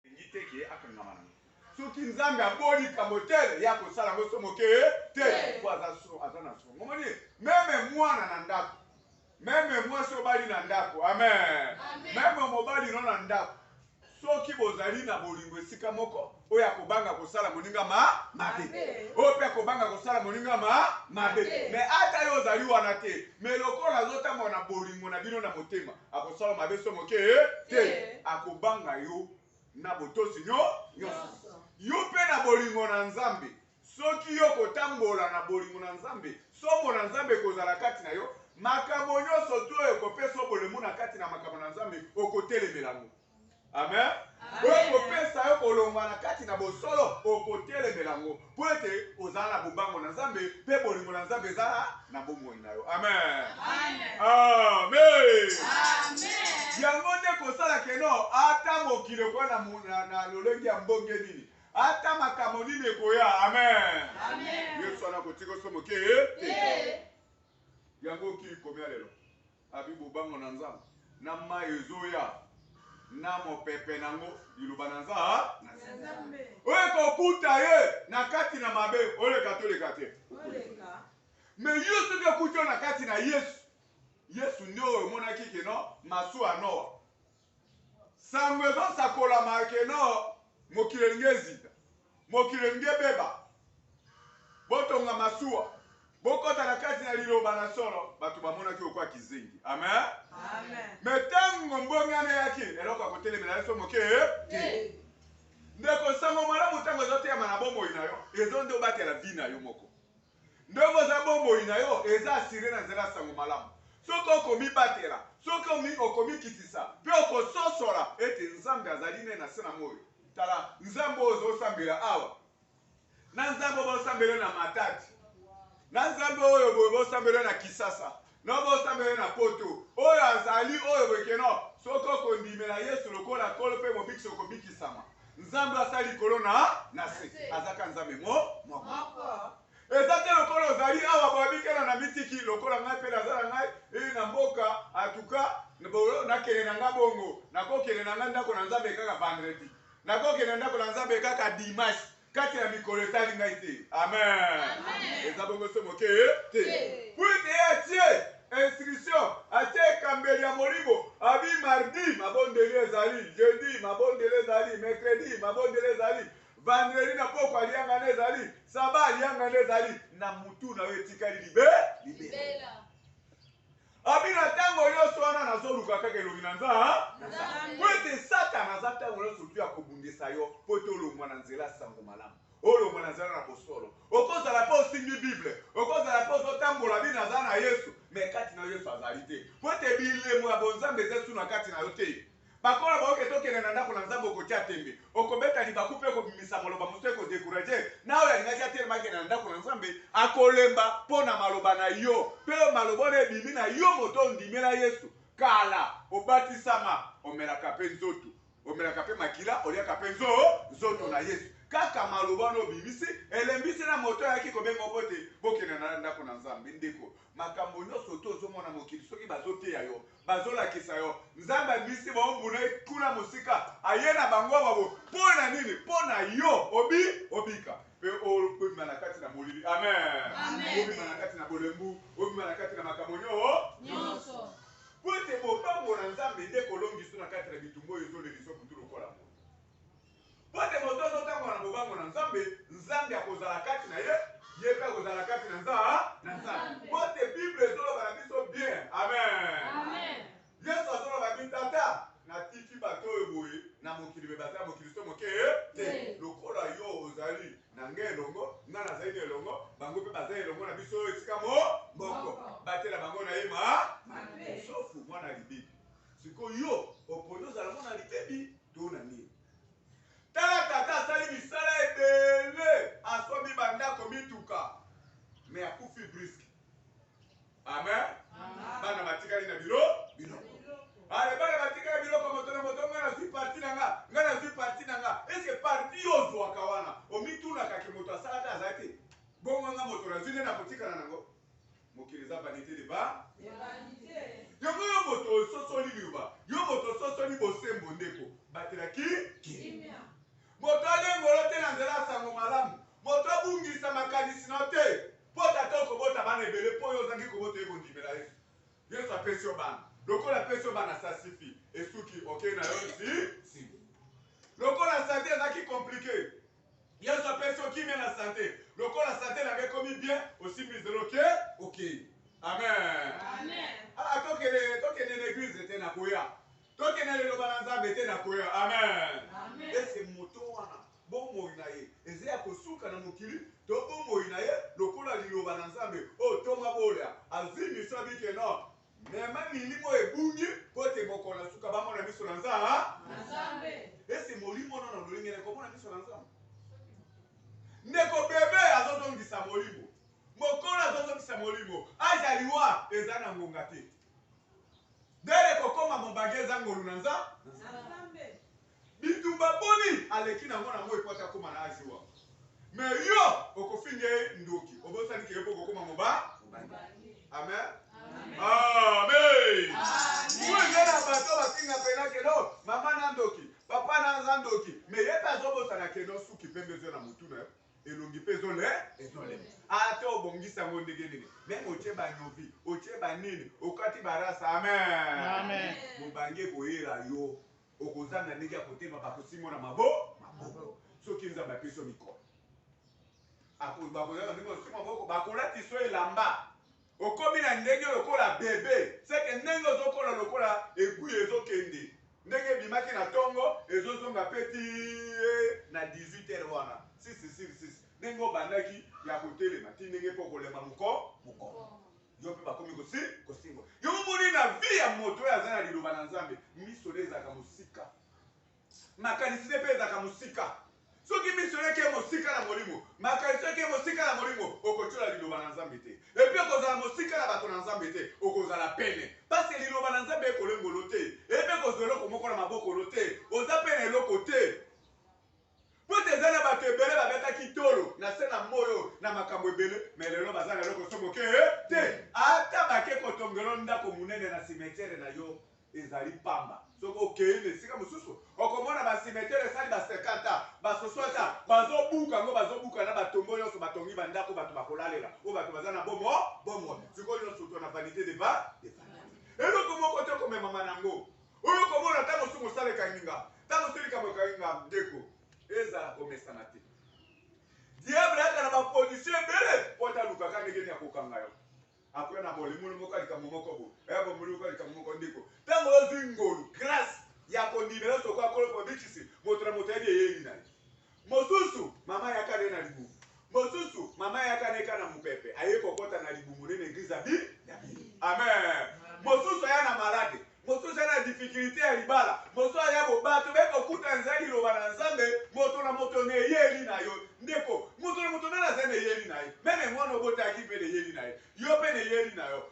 Elingi te ke akangama nango. Soki Nzambe aboli likambo tel, ye akosala yango somo ke te, po aza so, aza na somo. Omoni? Meme mwana na ndako, meme mwasi obali na ndako, amen, meme mobali no na ndako, soki bozali na bolingo esika moko, oyo akobanga kosala moninga ma mabe, oyo pe akobanga kosala moninga ma mabe. Mais ata yo ozali wana te, mais lokola azotambola na bolingo na bino na motema, Akosala mabe so moke te. Akobanga yo na botosi nyo nyonso. Yo mpe na bolingo na Nzambe. Soki yo kotambola na bolingo na Nzambe, somo na Nzambe ekozala kati na yo, makambo nyonso to oyo ekopesa yo bolemu na kati na makambo na Nzambe, okotelemela yango. amen oyo ekopesa yo kolongwa na kati na bosolo okotelemela yango mpo ete ozala na bobango na nzambe mpe bolingo na nzambe ezala na bomoi na yo amen amen yango nde kosala keno ata mokili okoya na lolenge ya mbonge nini ata makambo nini ekoya amen yesu wana kotika oso moke te yango okili komia lelo Abi bobango na Nzambe na mayi ezoya na mopepe nango liloba na Nzambe oyo ekokuta ye na kati na mabe oleka toleka te me yo soki okuti yo na kati na Yesu Yesu nde oyo omonaki kino masuwa Noa Sango ezo sakolama que non mokili elingi ezika, mokili elingi ebeba. Botonga masuwa, bokota na kati na liloba na solo. Bato bamonaki okwa kizengi. Amen. Amen. Me tango mbongana eyaki, eloko ya kotelemela yeso moke te. Ndeko sango malamu tango ezoteyama na bomoi na yo, ezo nde obatela vie na yo moko. Ndenge oza bomoi na yo eza assure na nzela ya sango malamu. Soki oko mibatela, soki omi oko mikitisa, pe oko sosola ete Nzambe azali ne na se na moyi. Tala, Nzambe oyo ozo sambela awa, na Nzambe oyo bo sambela na Matadi, na Nzambe oyo boye bo sambela na Kisasa, No bosambela na poto. Oyo azali oyo boye ke no soki oko ndimela yesu lokola nkolo pe mobikisi oko bikisama. Nzambe asali likolo na na se aza ka nzambe mo moko. Eza te lokola ozali awa boye abikela na mitiki lokola ngai pe naza na ngai yy na mboka en tout cas bolo na kende na nga bongo nako kende na nga ndako na nzambe kaka vendredi nako kende na ndako na nzambe kaka dimanche kati na mikolo etali ngai te. Amen. Eza bongo se moke te. Mpo ete ye atie instruction, atie ekambeli ya molimo, abi mardi mabondeli ezali, jeudi mabondeli ezali, mercredi mabondeli ezali, vendredi na poko aliangana ezali, saba aliangana ezali, na mutu na yo etikali libe libela. Abi na tango nyonso wana nazoluka kaka elongi na Nzambe. Mpo ete Satana aza tango nyonso tu ya kobundisa yo mpo ete olongwa na nzela ya sango malamu. Olongwa na nzela na bosolo. Okozala mpe osimbi Bible, okozala mpe ozotambola bi naza na Yesu, mais kati na yo Yesu azali te. Mpo ete bilembo ya bonzambe eza esu na kati na yo te. Bakolo bayoke tokende na ndako na nzambe okotia tembe okobeta libaku pe kobimisa maloba mosusu eko decourage na oyo alingaki atelema akende na ndako na nzambe akolemba po na maloba na yo pe oyo maloba wana ebimi na yo moto ondimela yesu kala obatisama omelaka pe nzotu omelaka pe makila oliaka pe nzo nzoto na yesu kaka maloba wana obimisi elembisi na moto ayaki kobenga yo bote bokende na ndako na nzambe ndeko Makambo nioso to zo mona mokili soki bazo teya yo bazo lakisa yo nzambe ya misi ba obuna ye kuna mosika aye na bango ba bo po na nini po na yo obi obika pe obima na kati na molili amen obima na kati na bolembu obima na kati na makambo nio nioso po ete bobango na nzambe nde kolongiso na kati na bitumba oyo ezo leliso butu lokola mo Mpo ete moto oyo azotambola na bobango na Nzambe, Nzambe akozala kati na ye, ye mpe akozala kati na Nzambe. Mpo ete Bible ezoloba na biso bien. Amen. Yesu azoloba bi tata, natiki bato oyo boye na mokili, me bazali ya mokili so moke te. Lokola yo ozali na ngai elongo, ngai nazali na elongo, bango mpe bazali elongo na biso oyo esika mo moko. Batela bango na ye ma sofu mwana libebi. Sikoyo yo oponi ozala mwana libebi. to na nini tala tata asali misala ebele asombi bandako mituka me akufi briske amen bana batikali na bilo biloko ale bana batikali biloko moto na moto ngai nazwi parti na nga ngai nazwi parti na nga eske parti yo ozwaka wana omitunaka ke moto asalaka aza te bongo nga moto nazwi nde nakotikala nango mokili eza vanite de ba yango yo moto ososoli liloba yo moto ososoli bosembo ndeko batelaki kimia moto alengolo te na nzela ya sango malamu moto abungisa makanisi na te mpo tata okobota bana ebele mpo yo ozangi kobota ye kondimela yesu yesu apesi yo bana lokola apesi yo bana sasifi esuki okei na yo nsi lokola sante ezalaki komplike Yesu apesi yo kimia na sante. Lokola sante na nga ekomi bien, osimbi nzela oke, okei. Amen. Amen. Ah, tokende, tokende na eglise te na koya. Tokende na liloba na Nzambe te na koya. Amen. Amen. Ese moto wana bomoi na ye eza ya kosuka na mokili to bomoi na ye lokola liloba na Nzambe oyo oh, ntoma bolia azwi miso abike no Mema milimo oyo ebungi mpo ete bokola suka bamona miso na Nzambe. Ese molimo wana na lolenge na komona miso na Nzambe. Ndeko bebe azozongisa molimo, mokolo azozongisa molimo, aja liwa eza na ngonga te. Dere kokoma mobagi eza ngolu na Nzambe. Bitumba boni aleki na ngo na moyi po ata akoma na age oyo ako mais yo okofinga ye ndoki obosani ke yo pe okokoma moba amen amen kuende na bato bafinga pena keno mama na ndoki papa na aza ndoki mais ye pe azobosana keno suki pembe ezo na mutu na yo elongi mpe ezole ezolema ata obongisi yango ndenge nini meme otye banyovi otye banini okati barasa amen mobange koyela yo okozanga ndenge ya kotema bato simo na mabo maboko soki nzambe apeso mikolo bakozanga ndenge osimo maboko bakolatiso elamba okomi na ndenge lokola bebe seke ndenge ozokola lokola egui ezokende ndenge ebimaki na ntongo ezozonga mpe ti na 18 heure wana sisi siri sisi ndenge obandaki ya kotelema ti ndenge mpe okolema moko moko yo mpe bakomi kosi kosengwa yo omoni na vi ya moto oyo aza na liloba na nzambe miso nde ezalaka mosika makanisi nde mpe ezalaka mosika soki miso eleki ye mosika na molimo makanisi eleki ye mosika na molimo okotyola liloba na nzambe te epi okozala mosika na bato na nzambe te okozala pene mpasi liloba na nzambe ekolengolo te ebe kozwa eloko moko na mabokolo te oza mpe na eloko te Mpo te eza na bato ebele babetaki tolo na se na moi oyo na makambo ebele, me lelo baza na eloko so moke te. Ata bake kotonga yo ndako monene na simetiere na yo, ezali pamba. Soki okei na esika mosusu, okomona ba simetiere esali ba 50 ans, ba 60 ans, bazo buka yango, bazo buka na ba tombeaux yonso, batongi ba ndako bato bakolalela, oyo bato baza na bomo, bomoi. Sikoyo, yonso to na vanite de va, de vanite. Eloko moko te ekomemama na yango. Oyo komona tango su mosala ekangi nga, tango su likambo ekangi nga ndeko ezala komesana te. Diable ayaka na ba position ebele po ata aluka ka ndenge nini akokanga yo. Après na bolemulu moko ya likambo moko boye, eh bomulu moko ya likambo moko ndeko tango ozui ngolu, grace, ya kondimela osi okoya kolo po abikisi moto na moto ayebi eyeli na ye. Mosusu, mama yaka ne na libumu. Mosusu, mama yaka ne ka na mupepe, aye kokota na libumu ne na eglise ya bi, ya bino. Amen. Mosusu aya na malade. Mosusu aya na difficulite ya libala. Mosusu aya bo, bato baye kokuta nza liloba na Nzambe, moto na moto na eyeli na yo. Ndeko, moto na moto nani aza na eyeli na ye. Meme mwana obotaki mpe na eyeli na ye. Yo mpe na eyeli na yo.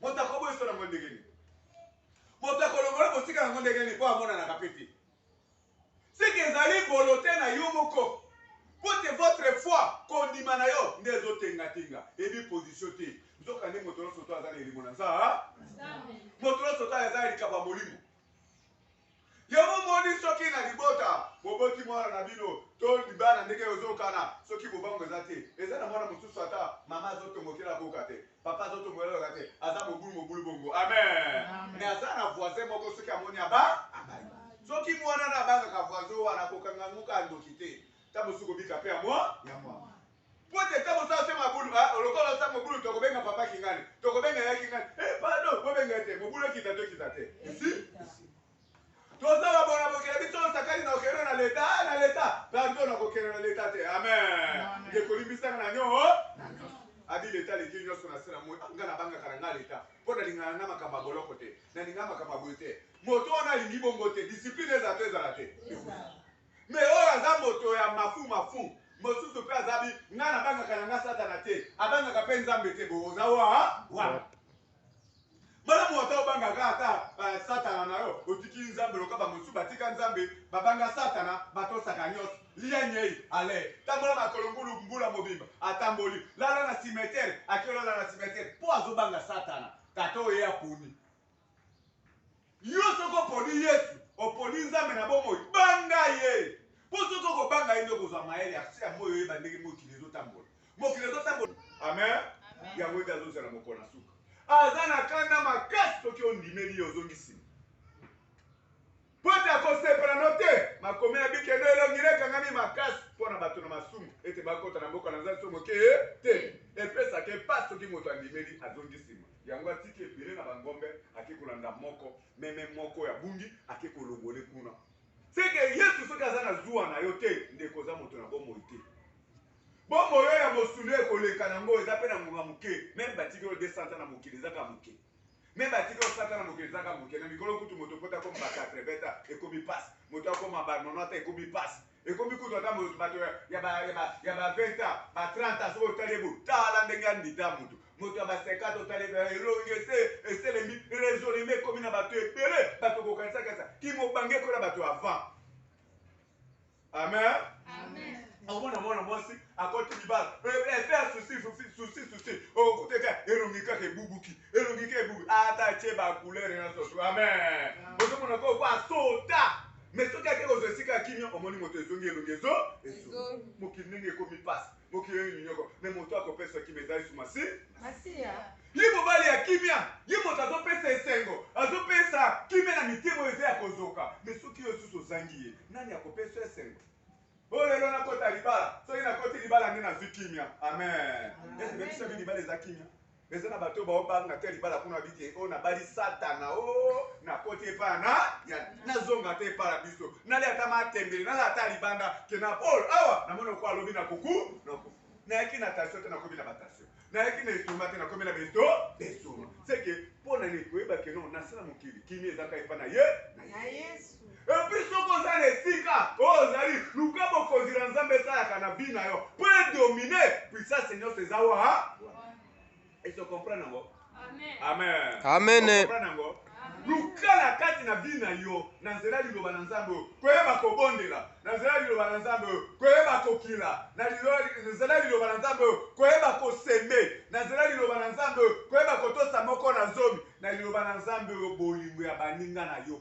moto akoboyisa nango ndenge nini moto akolongola mosika yango ndenge nini mpo amonanaka mpe te seke ezali bolote na yo moko mpo te votre foi kondima na yo nde ezotengatenga ebi pozisio te nzoka nde moto nyonso to aza na elimo na nza moto nyonso to aza ya likambo ya molimo Yo momoni soki na libota boboti mwana na bino to libala ndenge ozokana soki bobangu eza te eza na mwana mosusu ata mama azotombokela koka te papa azotombokela koka te aza mobulu mobulu bongo amen mais aza na voisin moko soki amoni aba abai soki mwana na abangaka voisin wana kokanga ngoka ndoki te ta mosusu kobika pe ya mwa ya mwa Mpo te ntango oza ose mabulu, ah, lokola oza mobulu, tokobenga papa kingani, tokobenga ya kingani, eh, pardon, bobenga ye te, mobulu ekita to ekita te. Isi, toza babona bokela biso osakani na okende na leta, ah, na leta, pardon, na kokende na leta te, amen. Ndeko limbisaka na nyo, abi leta aleki nyonso na se na moi, nga nabangaka na nga leta, mpo nalingana na makambo ya boloko te, nalingana makambo ya boye te, moto wana alingi bongo te, discipline ezala to ezala te. Mais oyo aza moto ya mafu mafu mosusu pe aza bi nga na bangaka na nga satana te abangaka pe nzambe te bo oza wa wa Bana mwata obanga ka ata uh, satana na yo otiki nzambe loka bamosusu batika nzambe babanga satana batosaka nyonso lia nyei ale tambola makolo ngulu mbula mobimba atamboli lala na simetere akiolala na simetere mpo azobanga satana tata oyo ye aponi Yo soki oponi Yesu, oponi Nzambe na bomoi. Banga Ye! Mpo soki okobanga Ye nde okozwa mayele ya se ya moi oyeba ndenge mokili ezotambola. Mokili ezotambola. Amen! Yango nde azozela mokolo na suka. Aza na kanda makasi soki ondimeli Ye, ozongi sima. Mpo ete akosepela no te. Makomi na bikendo elongi nekangami makasi mpo na bato na masumu, ete bakota na mboka na Nzambe soki moke te. Epesaka ye pasi soki moto andimeli, azongi sima. Yango atiki ebele na ba ngombe ake kolanda moko meme moko oyo abungi ake kolongole kuna. Seke Yesu soki aza na zuwa na yo te ndeko oza moto na bomoi te. Bomoi oyo ya mosuni ekoleka na ngo eza pe na ngonga moke meme batiki yo 200 ans na mokili eza ka moke. Meme batiki yo 100 ans na mokili eza ka moke na mikolo kutu moto po ta koma ba 80 ans ekomi pasi moto akoma ba 90 ans ekomi pasi. Ekomi kutu ata moto bato ya, ya ba, ya ba, ya ba 20 ans, ba 30 ans, soki otali ye boye, tala ndenge andida moto. Moto ya ba 50 otali ye, elongi esi eselembi, raisonnement ekomi na bato ebele, bato kokanisaki asa kimobange ekola bato ya avant. Amen. Amen. omona mwana mwasi akoti libala efe ya susi susi susi okokuta ete elongi kaka ebubuki elongi kaka ebubuki ata atye bakulere nyonso amen ozomona koko asota mais soki ake kozwa esika ya kimia omoni moto ezongi elongi ezo ezongi mokili ndenge ekomi pasi mokili oyo minyoko me moto akopesa kimia eza yesu masi masiya ye mobali ya kimia ye moto azopesa esengo azopesa kimia na mitema oyo eza ya kozoka me soki yo susu ozangi ye nani akopesa esengo oyo oh, lelo nakota libala soki nakoti libala nde nazwi kimia amen esi bebisa bi libala eza kimia Mais eza na bato bao banga te libala kuna bi ke o oh, nabali satana o oh, nakoti epa na ya nazonga te epa na biso nali ata matembele nala ata libanda ke na pole awa namoni oko alobi na kuku na kuku nayaki na tasio te nakomi na batasio nayaki na esuma te nakomi na beto esuma seke mpo na nini koyeba keno nasala mokili kimi ezaka epa na ye na yesu Et puis soki oza na esika oyo ozali, luka bokonzi na Nzambe esalaka na vie na yo mpo e dominer puissance nyonso eza wa wana. Est-ce que comprendre yango? Amen. Amen. Amen. Comprendre yango? luka na kati na vie na yo na nzela liloba na nzambe oyo koyeba kobondela na nzela liloba na nzambe oyo koyeba kokila na nzela liloba na nzambe oyo koyeba koseme na nzela liloba na nzambe oyo koyeba kotosa moko na zomi na liloba na nzambe oyo bolingo ya baninga na yo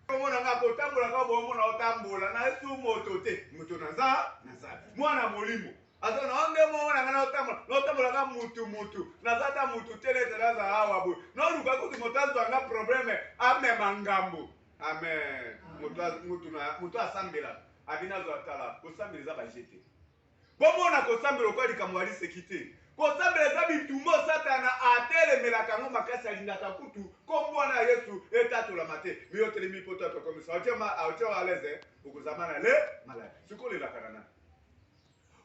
komona nga kotambola kaka bomona otambola na yesu moto te moto naza naza mwana molimo aza na onde momona nga naotambola naotambola ka mutu mutu naza ata mutu te nete naza awa boye noluka kutu moto azwa nga probleme amema ngambo amen moto asambela abi nazwa tala kosambela eza baje te Bomona kosambela lokola likambo ya liseki te. Kosambela eza bitumba oyo Satana atelemelaka yango makasi, alingaka kutu kombo wana ya Yesu etatolama te. Mais yo otelemi mpo to atokomisa. Otie ma, otie wa aleze, okozama na le malade. Siko olelaka na nani?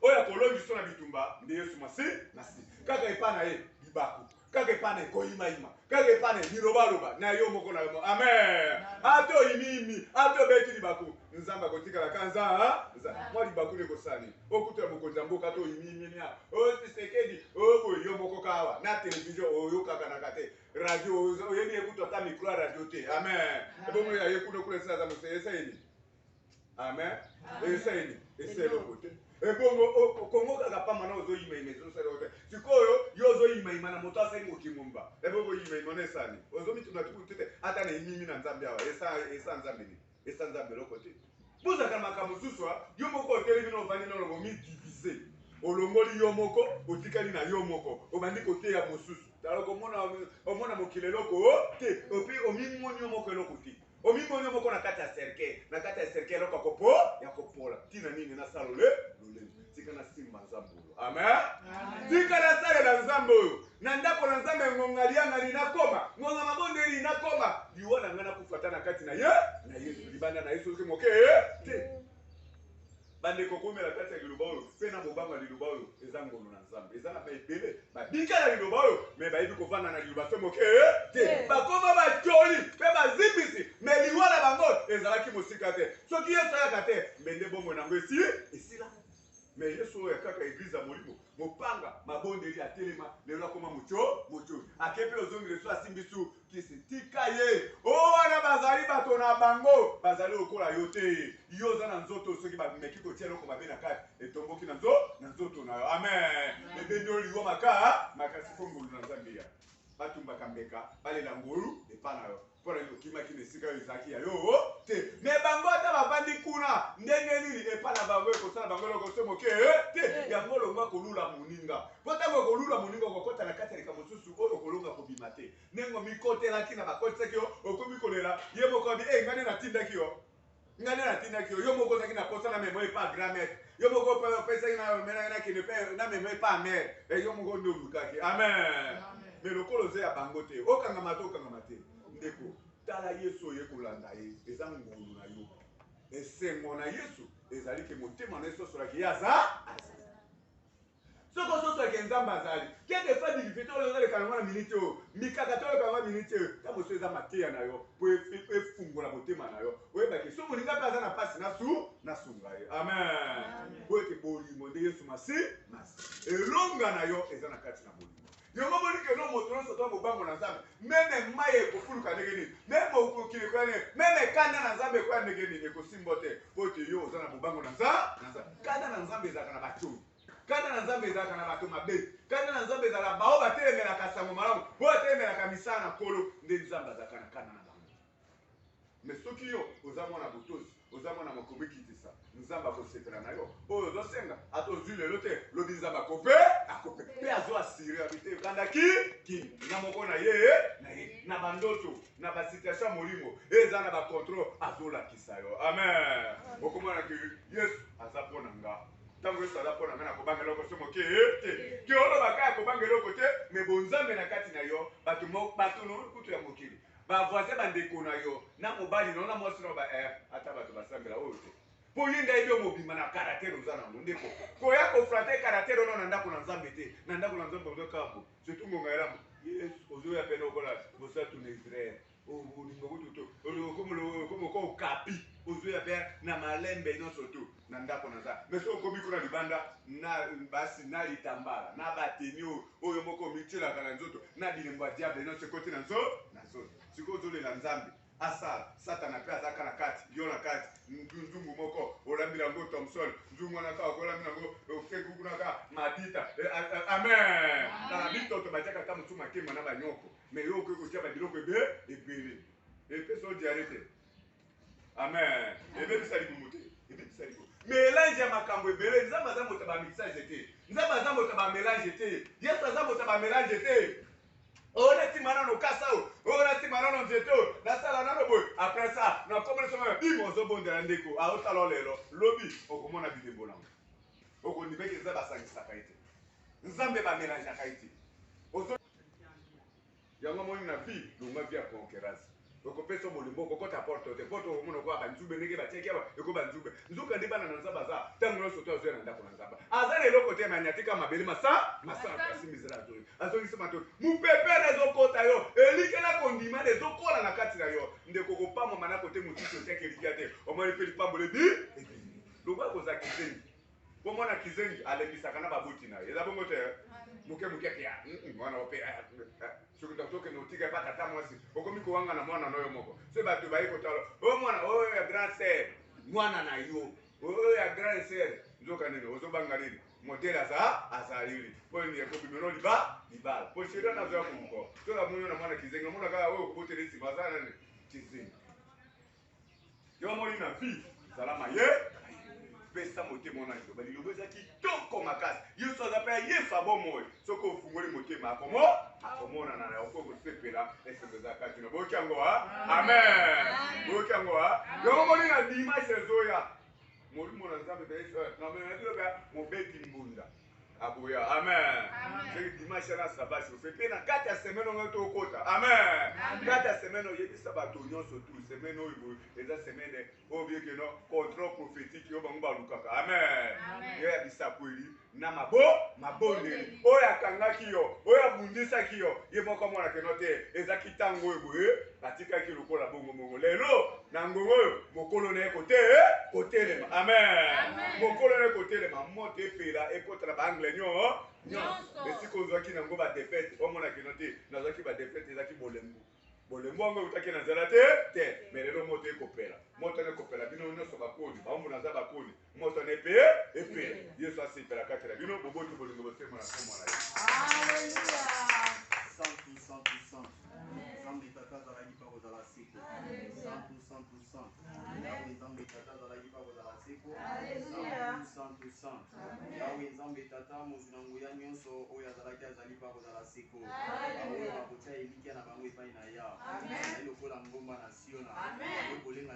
Oyo akolongi so na bitumba nde Yesu masi, masi. Kaka epa na ye, libaku. kaka epai na koyimayima kaka epai na bilobaloba na yo moko na yo moko amen ata oyimiimi ata obeti libaku nzambe akotikala ka nza mwa libaku nde kosani okutu ya mokonzi ya mboka to oyimiiminia otisekedi oboye yo moko kawa na televizio oyokakanaka te radio oyebi ekutu ata mikro ya radio te amen ebongo ya ye kuna kuna esila aza moseyeseni amen esa ye nini esa eloko te ebongo kongo kaka pamba na ozoyimayima ezosala yo te sikoyo yo ozoyimayima na moto asali mokimumba ebongo oyimayima na esani ozomituna tukutu te ata na emimi na nzambe awa esa nzambe nini esa nzambe eloko te bozaka makambo mosusu yo moko otelemi na ovandi na olongo midivize olongoli yo moko otikali na yo moko obandi koteya mosusu tala omona mokili eloko te opi omimoni yo moko eloko te Omimoni yo moko na kati ya cercueil, na kati ya cercueil eloko yako po yako pola. Tina nini na sala le lolendo? Tika na simba Nzambe oyo. Amen. Tika na salela Nzambe oyo. Na ndako na Nzambe ngonga liangani na koma, ngonga mabondeli na koma. Liwa na ngai na kufa ata na kati na ye, na Yesu libanda na Yesu soki moke te. Bandeko, koumela kati ya Liloba oyo, mpe na bobanga Liloba oyo. Eza ngolu na Nzambe. Eza na baebele babika na Liloba oyo, me bayebi kovanda na Liloba se moke te. Bakoma batoli mpe bazimbisi, me liwa na bango ezalaki mosika te. Soki Yesu ayaka te, mbe nde bomoi na yango esi esila. Me Yesu oyo ya kaka eglise ya molimo, mopanga, mabondeli, atelema lelo, akoma moto, moto. Ake mpe ozongi lesu, asimbi su kisi tika ye o oh, wana bazali bato na bango bazali lokola yo te yo oza na nzoto soki bameki kotia eloko mabe na kati etomboki na nzo na nzoto na yo amen ebendi oyo liwa maka makasi mpo ngolu na nzambe ya batumbaka mbeka balela ngolu epa na yo mpo na nini okimaki na esika oyo ezalaki ya yo oh, te me bango ata bavandi kuna ndenge nini epa na bango ekosala bango eloko se moke eh, te yango olongwa kolula moninga Mpo ntango okolula moninga, okokota na kati ya likambo mosusu oyo okolonga kobima te. Ndenge omikotelaki na bakotisaki yo, okomi kolela, ye moko alobi, Ee, ngai nde natindaki yo. Ngai nde natindaki yo. Yo moko ozalaki na mposa namema yo epai grand maître. Yo moko opesaki na omelaki nakende mpe namema epai mère. E, yo moko nde olukaki. Amen. Me lokola oza ya bango te, okangama te, okangama te. Ndeko, tala Yesu oye kolanda ye, eza ngolu na yo. Esengo na Yesu ezali ke motema na ye sosolaki ye aza Soki ozosola ke Nzambe azali, que de faire du vide oyo ezoleka na ngo na minute oyo, mikakatano oyo eleka na ngo na minute oyo, tango mosusu eza mateya na yo po efungola motema na yo, oyeba ke soki moninga pe aza na pasi nasunga ye. Amen! Boye ke bolingo nde Yesu Masiya, elonga na yo eza na kati na bolingo. Yango omoni que no moto nyonso to kobango na Nzambe, meme mayi ekofuluka ndenge nini, meme mokili ekoya ndenge, meme kanda na Nzambe ekoya ndenge nini, ekosimbo te mpo ete yo oza na bobango na Nzambe. Kanda na Nzambe ezalaka na bato oyo kanda na Nzambe ezalaka na bato mabe. Kanda na Nzambe ezalaka baoyo batelemelaka sango malamu, baoyo batelemelaka misala na Nkolo, nde Nzambe azalaka na kanda na bango. Mais soki yo oza mwana botosi, oza mwana makomi kitisa, Nzambe akosepela na yo. Oyo ozo senga, ata ozui lelo te, lobi Nzambe akope, akope. Pe azo assurer ya bite banda ki ki na moko na ye na ye na bandoto na ba situation molimo eza na ba control azo lakisa yo. Amen. Okomona ke Yesu aza mpo na nga. Ntango Yesu aza mpo na nga na kobanga eloko so moke te. Ke olobaka ya kobanga eloko te, me bonzambe na kati na yo, bato bato kutu ya mokili Ba voisin ba ndeko na yo na mobali na yo na mwasi na yo ba eh, ata bato basambela oyo te mpo ye nde ayebi yo mobimba na karatere oza na yango ndeko koya koflate karatere wana na ndako na nzambe te na ndako na nzambe ozo kambo surtout ngonga elamu yesu ozoya mpe lokola bosatu na israel olingo kutu te okomoka okapi ozoya mpe na malembe nyonso tu na ndako na nga mais soki okomi kuna libanda na basi na litambala na bateni oyo oyo moko omityelaka na nzoto na bilembo ya diable nyonso ekoti na nzo na nzoto sikoyo ozolela nzambe asala satana mpe azalaka na kati yo na kati nzungu moko olambila yango thomson nzungu wana kaka kolambila yango okekukunaka madita eh, ah, ah, amen na bitoto batiaka ata mosusu makemba na banyoko me yo okoki kotya babiloko ebe ebele epesa odiare te amen ebebisa libumu te ebebisa libumu melange ya makambo ebele nzambe aza moto ya bamixage te nzambe aza moto ya bamelange te yesu aza moto ya bamelange te oyo natima nano kasa oyo oyo natima nano nzete oyo nasala nano boye apres sa nakomeli somo bima ozobondela ndeko aotala lelo lobi okomona bilembo nango okondimeke nzambe asangisaka ye te nzambe bamelangeaka ye te Yango omoni na vie longua vie ya conquerence oko pesa yo bolingo oko kota porte te porte oko mona lokola ba nzube ndenge ba tiaki awa eko ba nzube nzoka ndi bana na nzambe aza tango nionso to azoya na ndako na nzambe aza na eloko te mani atika mabele masa masa kasi mizela azongi azongi sima to mupepe na zo kota yo elike na kondima na ezo kola na kati na yo ndeko ko pambo mana kote mutusu otiaki elike te omoni pe lipambo le bi ebimi longua ko za kizengi Bo mwana kizengi alekisaka na baboti na ye. Eza bongo te muke muke te ya mwana ope soki ndoki okende otika epa tata mwasi okomi kowanga na mwana na yo moko se bato baye kotala o mwana oyo ya grand sere mwana na yo oyo ya grand sere nzoka nini ozobanga nini modele aza azalili mpo nini ekobimelo liba libala mpo sheri wana azoya komuko tola moyo na mwana kizengi omona kaka oyo okobotela nsima aza nani kizengi yo omoni na vie zala maye pesa motema wana liloba liloba eza kitoko makasi yesu aza mpe yesu abomoi soki ofungoli motema akomo akomonana na oko kosepela esengo eza kati na boyoki yango a amen boyoki yango a yango omoni na dimanche ezoya molimo na nzambe mpe yesu na mobeti mbunda akoya amen soki dimanche na saba chauffe mpe na kati ya semaine ongai tokota amen kati ya semaine oyebisa bato nyonso tu semaine oyo boye eza semaine oyo biekeno control prophétique oyo bango balukaka amen yo ya bisakweli na mabo mabondeli oyo akangaki yo oyo abundisaki yo ye moko amonakeno te ezaki ntango oyo boye Batikaki lokola bongo bongo. Lelo na ngongo oyo mokolo na ye kote kotelema. Amen. Mokolo na ye kotelema, moto epela ekota na baangle nyo nyonso. Esika ozwaki nango badefete, omona kino te nazwaki badefete, ezalaki bolembu bolembu yango eutaki na nzela te te me lelo moto ekopela moto yango ekopela bino nyonso bakoni baombo naza bakoni moto na epe epela yesu asepela kati na bino boboti bolingo bosembo na nkombo na ye santu santu santu nzambe tata azalaki mpa kozala seko santu santu santu yawe nzambe tata azalaki mpa kozala seko santu santu santu yawe nzambe tata mozwi na nguya nyonso oyo azalaki azali mpa kozala seko baoyo bakotya elikya na bango epai na ya lokola ngomba na siona okolenga